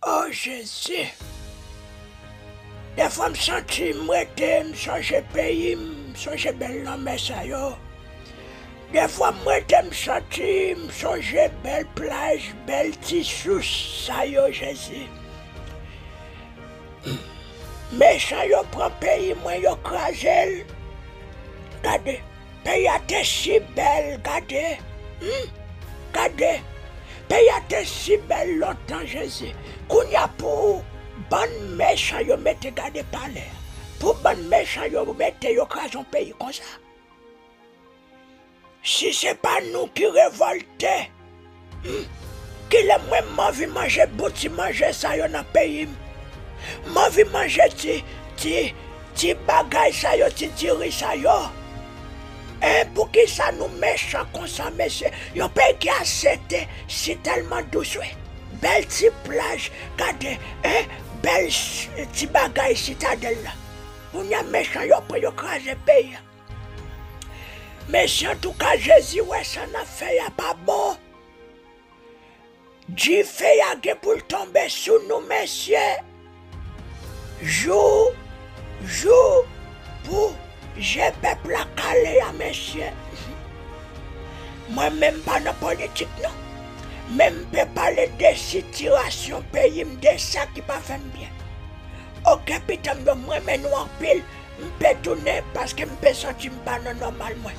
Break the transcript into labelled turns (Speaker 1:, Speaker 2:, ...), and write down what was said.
Speaker 1: Oh jezi. Defwa m santi m rete m sonje peyi m, m sonje bèl lanmè sa yo. Defwa m rete m santi m sonje bèl plaj, bèl ti sous sa yo jezi. Mechan yo pran peyi mwen yo kraze l. Gade. Peyi a te si bèl gade humm gade Peyi a te si bèl lontan jezi kounya pou bann mechan yo mete gade palè pou bann mechan yo mete yo kraze yon peyi konsa si se pa nou ki revolte Kilè mwen m anvi manje bout ti manje sa yo nan peyi m. M anvi manje ti ti ti bagay sa yo ti diri sa yo. Eh poukisa nou mechan konsa mesye yon peyi ki asepte si telman dous wi. Bel ti plaj gade eh bel ti bagay sitadel la. Kounya mechan yo pran yo kraze peyi a. Mesi antouka jezi wè sa nap fè ya pa bon dife ya gen poul tonbe sou nou mesye jou jou pou je pèp la kale ya mesye mwen menm pa nan politik non men m pe pale de sitirasyon peyi m de sa ki pa fè m byen ok pitanm yo m renmen nou anpil. M pe tounen paske m pe santi m pa nan nòmal mwen.